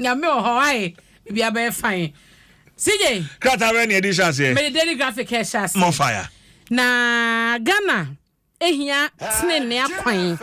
Nyame wɔ hɔ ae bibi abɛyɛ fine. CJ. Krataa bɛn na yɛde hyɛ aseɛ? Mede daily graphic hyɛ aseɛ. More fire. Na Ghana hia tenenee akwan.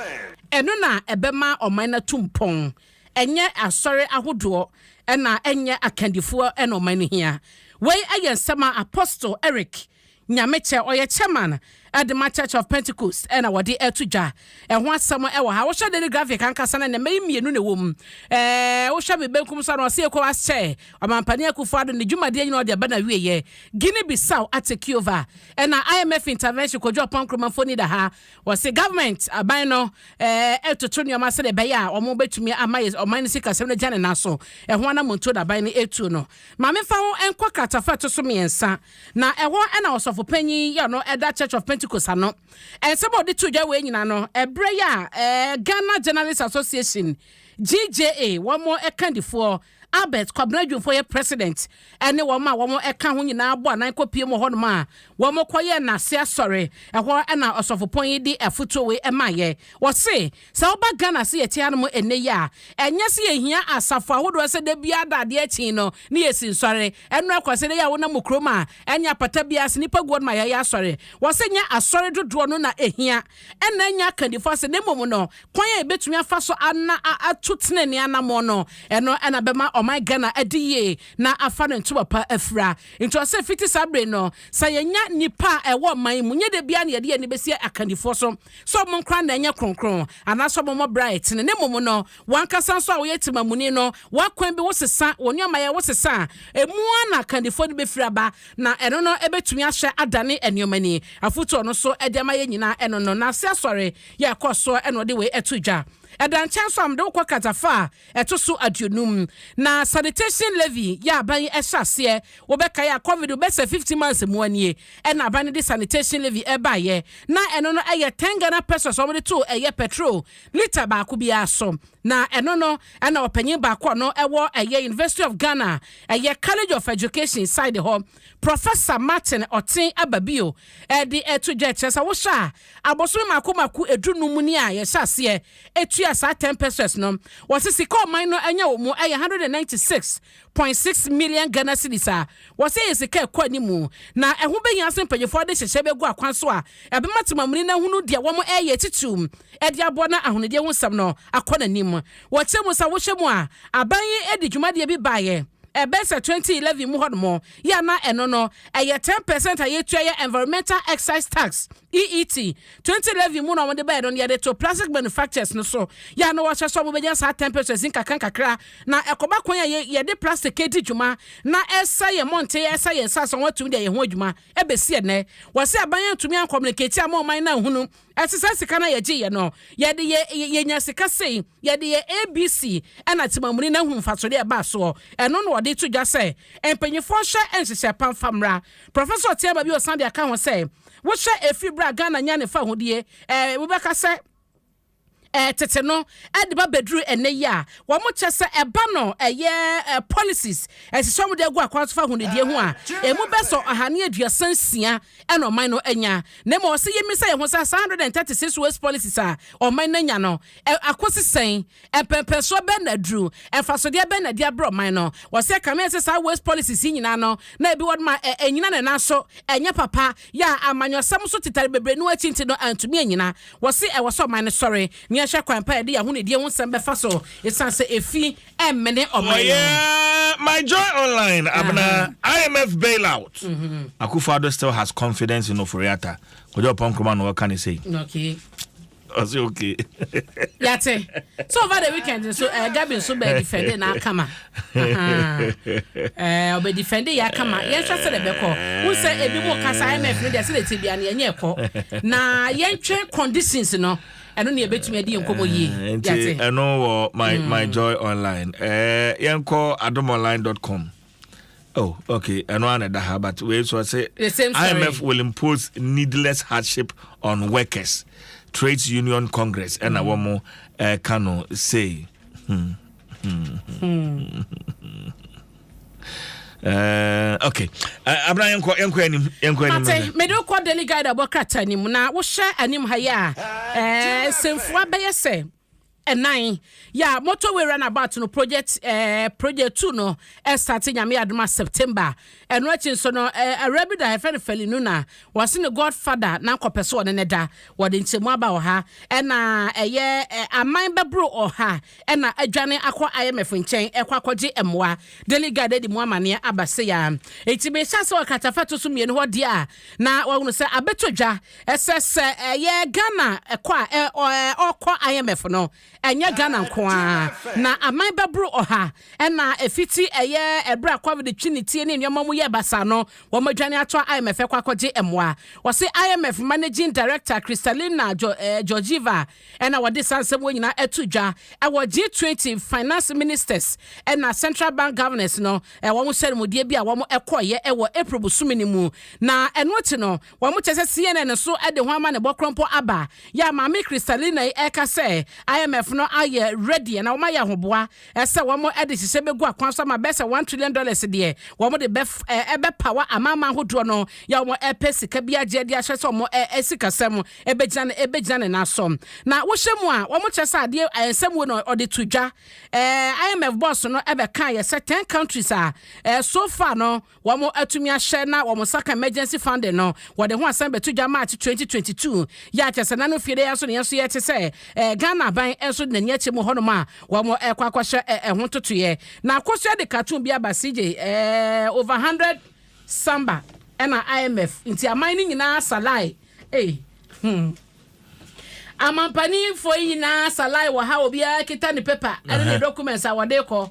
Ɛno na ɛbɛma ɔman no atu mpɔn. Ɛnyɛ asɔre ahodoɔ na ɛnyɛ akandifoɔ na ɔman no hia. Wei yɛ nsɛm a Apostle Eric Nyamekyɛ, ɔyɛ chairman de ma Church of Pentecost na wɔde ato dwa. Ɛho asɛm wɔ ha. Wohwɛ Daily Graphic ankasa no, nnɛmma yi mmienu na ɛwɔ mu. Ɛɛ, wohwɛ me benkum so a, na ɔse ECOWAS kyɛ ɔmampanin Akufo Addo ne dwumadie nyinaa ɔde aba n'awieɛ. Guinea Bissau atake over. Ɛna IMF intervention Kojo Oppong Nkrumah mfoni da ha. Wɔse government, aban no, ɛɛ, retoto nneɛma sɛdeɛ ɛbɛyɛ a wɔbɛtumi ama yɛ ɔman no sikasɛm no agya ne nan so. Ɛho anammɔntuo na aban no retuo no. Ma memfa wo nkɔ kratafa a ɛto so mmiɛnsa. Na ɛhɔ na ɔsɔfo panyin yi a ɔno da Church of Pentecost ano. Nsɛm a ɔde too dwa wei nyinaa no, ɛberɛ yi a eh, Ghana Journalists Association, GJA, wɔn kandifoɔ Albert Kwabena Dwumfoɔ yɛ president, ɛne wɔn a wɔka ho nyinaa bɔ anan kɔpiem wɔ hɔnom a wɔkɔyɛɛ n'ase asɔre. Ɛhɔ na ɔsɔfopɔn yi de afotuo wei ɛmaeɛ. Wɔse Sɛ woba Ghana se yɛte ara mo ɛnnɛ yi a, ɛnyɛ se yɛhia asafo ahodoɔ sɛ da biara da adeɛ kye no ne yɛsi nsɔre. Ɛno ara kwa sɛ ɛnnɛ yi a wonam mo kurom a, ɛnyɛ apata biara se nnipa guɔ no ma yɛyɛ asɔre. Wɔ se nyɛ asɔre dodoɔ no na ɛhia, ɛna ɛnyɛ akandifoɔ asɛm na mmom no kwan a yɛbɛtumi afa so ana atu tenenee anammɔn no, ɛno na ɛbɛma ɔman Ghana adi yie na afa ne ntoma pa afira. Nti wɔ se fiti saa bere yi no, sɛ yɛnya nnipa a ɛwɔ ɔman yi mu, nyɛ da biara na yɛde yɛn ani bɛsi akandifoɔ so. sɛ ɔmo nkora na ɛnyɛ kronkron, anaasɛ ɔmo mmɔ bra a ɛtene. Ne mmom no, w'ankasa nso a woyɛ temamuni no, w'akwan bi wo sesa, wo nneɛmayɛ wo sesa a, emu ara na akandifoɔ no bɛfiri aba, na ɛno no bɛtumi ahyɛ adane nneɛma ni. Afotuo a ɔno nso de ama yɛn nyinaa ɛno no, N'ase Asɔre yɛ ɛkɔɔ soɔ na ɔde wei too dwa. Ɛda nkyɛn nso a, mede wo kɔ Katafa a Ɛto so aduonum, na sanitation levy yɛ aban yi hyɛ aseɛ. Wobɛkae a covid bɛ sɛ fifty months mua nie ɛna aban no de sanitation levy baeɛ. Na ɛno no yɛ ten Ghana pesos a wɔde to ɛyɛ petrol lita baako biara so. Na ɛno no ɛna ɔpanyin baako a ɔno ɛwɔ ɛyɛ University of Ghana ɛyɛ College of Education side hɔ Professor Martin Oteng aba bio ɛde ɛto dwa ɛkyerɛ sɛ wohwɛ a abosome mako mako ɛdu num nie a yɛhyɛ aseɛ etua saa ten pesos no. Wɔse sika a ɔman no anya wɔ mu yɛ 196.6 million Ghana cedis a wɔse ɛyɛ sika a ɛkɔ anim na ɛho bɛhia sɛ mpanyimfoɔ de hyehyɛ bɛgu akwan so a ɛbɛma temamuni no ahunu deɛ wɔreyɛ titiriw de aboa na ahonidie ho nsɛm no akɔ n'anim. Wɔkyerɛ mu sɛ wohwɛ mu a, aban yi de dwumadie bi baeɛ ɛbɛyɛ sɛ 2011 mu hɔnom yɛ a na ɛno no ɛyɛ ten percent a yɛtua yɛ Environmental Excise Tax, EET, Twenty levy mu na wɔde bae no na yɛde too plastic manufacturers no so. Yɛ a na wɔhwɛ sɛ wɔbɛnya saa temperatures yi nkakrankakra. Na ɛkɔba kwan a yɛde plastic redi dwuma na ɛresɛe yɛn mmɔnten, ɛresɛe yɛn nsase a wɔatumi de ayɛ ho adwuma. Ɛbɛsi ɛnnɛ, wɔse aban antumi ankɔmmuniketi amma ɔman no anhunu ɛse saa sika no a yɛgyeeɛ no, yɛde yɛ, yɛnya sika sei, yɛde yɛ ABC, ɛna Temamuni no ahunu mfasodeɛ a ɛbaa soɔ. Ɛno na wɔde to dwa sɛ mpanimfoɔ nhwɛ nhyehyɛɛ pa mfa mmra. Professor Tsiaba bio san de aka ho sɛ, Wohwɛ ɛfiri berɛ a Ghana nyaa ne fawohodie, ɛɛ, wobɛka sɛ, ɛɛ, tete no, de ba bɛduru ɛnnɛ yi a, wɔn kyɛ sɛ ɛba no ɛyɛ, ɛɛ, policies, nhyehyɛ a wɔde agu akwan so fawohonidie ho a, ɛmu bɛsɔ ɔha ne aduasa nsia na ɔman no anya. Na mmom ɔsɛ yɛmmisa yɛn ho sɛ saa 136 waste policies a ɔman no anya no, ɛɛ, akɔsi sɛn? Mpɛnpɛnsoɔ bɛn na aduru? Mfasodeɛ bɛn na ɛde abrɛ ɔman no? Wɔse kame se saa waste policies yi nyinaa no na ebi wɔ nom a ɛnyina ne nan so, ɛnyɛ papa, yɛ a amanyɔsɛm so tetare bebree no akyi nti no antumi anyina. Wɔse ɛwɔ sɛ ɔman no sɔre na yɛnhwɛ kwan pa a yɛde yɛn ahonidie ho nsɛm bɛfa so esiane sɛ efi mmene ɔman no mu. My Joy Online, Abena, IMF bailout, Akufo-Addo still has confidence in Ofori-Atta, Kojo Oppong Nkrumah na wɔka no sei. ɔsɛ okay yɛte so over the weekend nso uh, eh, gabi nso bɛ defend na akama ɔbɛ eh, defend yɛ akama yɛnhwɛ sɛ de bɛkɔ wo sɛ ebi mu kasa imf no deɛ sɛ de ti bia no yɛnyɛ ɛkɔ na yɛntwɛ conditions no ɛno ne yɛbɛtumi adi nkɔmmɔ yie eh, nti ɛno wɔ my, mm. my joy online uh, yɛnkɔ adomonline com Oh, okay. I know another, but we so I say the same story. IMF will impose needless hardship on workers. Trades Union Congress and mm. Awomo uh, Kano say. Hmm. Hmm. Hmm. Uh, okay eh, abena yɛnkɔ yɛnkɔ anim yɛnkɔ anim mate mede wokɔ daily guide abɔ krata anim na wohyɛ anim ha yi a eh, sɛmfua bɛyɛ sɛ ɛnan yɛ a motorway runabout no project eh, project two no ɛsate eh, nyame adoma september ɛno akyi nso no eh, awura bi da ɛfɛ no fɛli no na wɔse ne godfather na nkɔpɛ sɛ ɔne ne da wɔde nkyɛmu aba ɔha ɛna ɛyɛ eh, aman bɛboro ɔha ɛna adwane akɔ imf nkyɛn ɛkɔ akɔgye mmoa daily guide de mu amaneɛ aba se ya ɛti mehyɛ sɛ ɔkatafa to so mmienu hɔ deɛ a na wɔhunu sɛ abɛtɔ dwa Ɛsɛ sɛ ɛyɛ Ghana kɔ a ɔrekɔ IMF no, ɛnyɛ Ghana nko ara, na aman bɛboro ɔha na ɛfiti ɛyɛ ɛberɛ a Covid twi ne tie ne nneɛma mu yɛɛ basaa no, wɔadwane ato IMF ɛkɔ akɔgye mmoa. Wɔse IMF Managing Director Kristalina Georgieva na wɔde saa nsɛm wei nyinaa ato dwa wɔ G20 Finance Ministers na Central Bank Governors no wɔn nhyiamudie bi a wɔkɔeɛ wɔ April bosome no mu, na ɛno akyi no Wɔkyerɛ sɛ CNN nso de ho amanebɔ korɔmpɔ aba. Yɛ a Maame Kristalina yi reka sɛ IMF no ayɛ ready na wɔayɛ ahoboa sɛ wɔde nhyehyɛe begu akwan so ama bɛyɛ sɛ one trillion dollars deɛ wɔde bɛpawa amanaman ahodoɔ no yɛ a wɔpɛ sika bi agye de akyerɛ sɛ wɔn sikasɛm bɛgyina ne nan so. Na wohyɛ mu a, wɔkyerɛ sɛ adeɛ nsɛm wei na ɔde to dwa. IMF boss no bɛkaeɛ sɛ ten countries a so far no wɔn atumi ahyɛ na wɔn nsa ka emergency funding no, wɔde ho asɛm bɛto dwa March twenty twenty two yɛ a kyerɛ sɛ na no fie dɛ yɛn nso ne yɛn nso yɛte sɛ eh, Ghana aban nso de n'ani akyɛ mu hɔnom a wɔn ɛkɔ akɔhyɛ eh, ɛho ntotoeɛ na akosua de cartoon bi aba CJ eh, over hundred samba ɛna IMF nti aman no nyinaa salai eh, hmm. Amampaninfoɔ yi nyinaa salai wɔ ha obiara kita ne paper ɛne ne documents a wɔde kɔ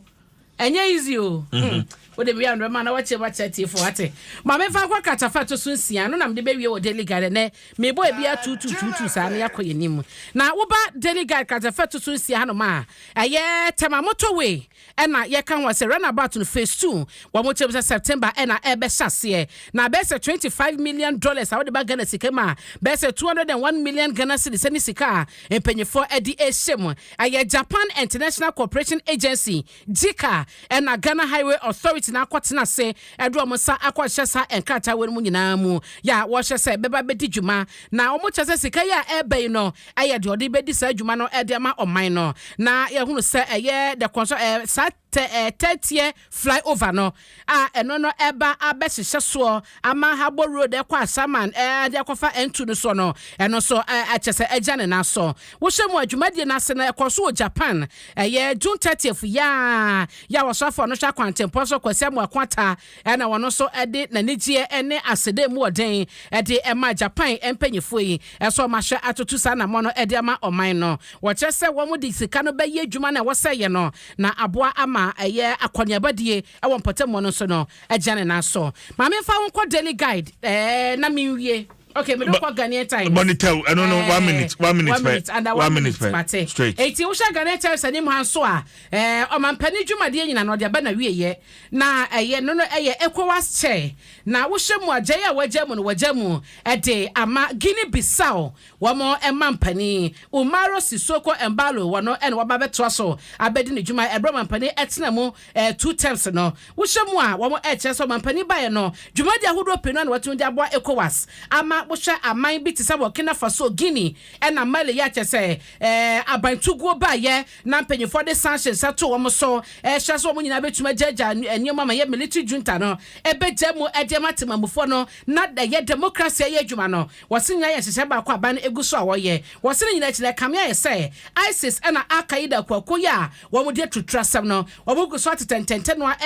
Ɛnyɛ easy o. Hmm. Wode wia no bɛma na wakyɛ mu akyerɛ tiefo wate. Ma memfa nkɔ kratafa ɛto so nsia no na mede bɛwie wɔ Daily Guide ɛnɛ. Mebɔ ebi atuutuutuutuu saa na yɛakɔ yɛn anim. Na woba Daily Guide kratafa ɛto so nsia hanom a, ɛyɛ Tema Motorway ɛna yɛka ho sɛ runabout no phase two wɔn kyerɛ mu sɛ September ɛna ɛbɛhyɛ aseɛ. Na bɛyɛ sɛ 25 million dollars a wode ba Ghana sika mu a, bɛyɛ sɛ 201 million Ghana cedis ɛne sika a mpanyinfoɔ ɛde rehyɛ mu. Ɛyɛ Japan International Cooperation Agency, JICA, ɛna Ghana Highway Authority na akɔtena ase ɛde wɔn nsa akɔhyɛ saa nkrataa wei no mu nyinaa mu yɛ a wɔhyɛ sɛ bɛba bɛdi dwuma na wɔn kyɛ sɛ sika yi a ɛreba yi no ɛyɛ deɛ ɔde bɛdi saa dwuma no ɛde ama ɔman no na yɛhunu sɛ ɛyɛ the construction ɛɛ saa tɛ ɛɛ tɛteɛ Fly over no a ɛno no ɛba abɛhyehyɛ soɔ ama Habo road ɛkɔ Asaman ɛde akɔfa N2 no soɔ no, ɛno nso ɛkyɛ sɛ agya ne nan so. Wohyɛ mu a dwumadie no ase no ɛkɔɔ so wɔ Japan ɛyɛ June 30th yaa yɛ a ɔsɔfoɔ no hwɛ akwantempɔn so Kwasi Amoako Ata ɛna wɔn nso ɛde nanigyeɛ ne aseda mu ɔden ɛde ɛmaa Japan mpaninfoɔ yi ɛsɛ wɔn ahwɛ atoto saa anamɔ no ɛde ama ɔman no. Wɔkyerɛ sɛ wɔn de sika no bɛyɛ adwuma no a wɔsɛeɛ no. na aboa ama ɛyɛ akɔneabadie wɔ mpɔtam hɔ no nso no agyina ne nan so. Ma memfa wo nkɔ Daily Guide ɛɛ na menwie. Okay, mede wokɔ Ghanaian Times. Bɔne tɛw, ɛno no, one minute, one minute pɛ. One minute, under one minute pɛ. Mate. Straight. Eti wohyɛ Ghanaian Times anim ha nso a, ɛɛ ɔmampanin dwumadie nyina no ɔde aba na wieɛ. Na ɛyɛ no no ɛyɛ ECOWAS chair. Na wohyɛ mu a gyae a wagya mu no wagya mu ɛde ama Guinea Bissau Wɔn mampanin, Umaro Sissoco Embaló, wɔno na wɔba abɛtoa so abɛdi ne dwuma ɛberɛ ɔmampanin ɛtena mu ɛɛ two terms no. Wohyɛ mu a, wɔn ɛɛkyerɛ sɛ ɔmampanin baeɛ no, dwumadie ahodoɔ pii no na watumi de aboa Ecowas ama wohwɛ aman bi te sɛ Burkina Faso, Guinea ɛna Mali yɛ a kyerɛ sɛ ɛɛ abantuguo baeɛ na mpanyinfoɔ de sanction nsa too wɔn so ɛɛhyɛ sɛ wɔn nyinaa bɛtumi agyaagyaa nneɛma ma ɛyɛ military junta no ɛbɛgya mu ɛde ama temanmufoɔ no na ɛyɛ democracy ɛyɛ adwuma no. Wɔse nyinaa yɛ nhyehyɛe baako a ban no gu so a wɔyɛ. Wɔse ne nyinaa akyi no, ɛkame ayɛ sɛ ISIS na Al-Qaeda akuakuo yi a wɔn de aturuturu asɛm no, wɔn gu so atetɛ ntɛntɛnoa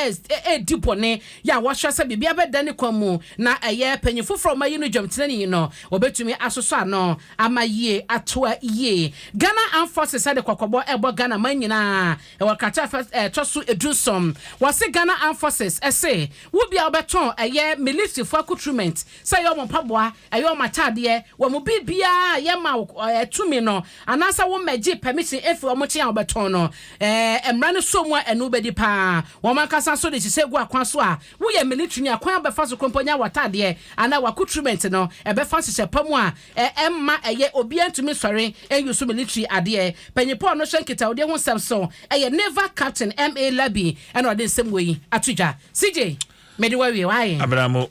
redi bɔne yɛ a wɔsrɛ sɛ biribiara bɛdan ne kwan mu na ɛyɛ panyin foforɔ a wɔayi no dwam tenani yi no, wɔbɛtumi asosɔ ano ama yie atoa yie. Ghana Armed Forces de kɔkɔbɔ rebɔ Ghana man nyinaa wɔ krataa a ɛfa a ɛtɔ so du nson. Wɔse Ghana Armed Forces se wo biara wobɛtɔn ɛyɛ militirifoɔ akutrement sɛ ɛyɛ wɔn mpaboa, ɛyɛ wɔn atadeɛ, wɔn biribiara a yɛma wo eh, tumi no, anaasɛ wo mmɛgye permission efi wɔn nkyɛn a wɔbɛtɔn no. Eh, mmara no sɔ mu a ɛno wobɛdi paa. Wɔn ankasa nso de hyehyɛ gu akwan so a woyɛ military ni akwan a wobɛfa so krompo nya w'atadeɛ anaa w'accoutrement no, ɛbɛfa nhyehyɛ pa mu a eh, ɛmma ɛyɛ obiara ntumi nsɔre nuse military adeɛ. Panyin pa a ɔno hyɛ nkitahodie ho nsɛm so ɛyɛ Naval Captain MA Labi ɛna ɔde nsɛm wei ato dwa. CJ, mede wawie, why? Abramo,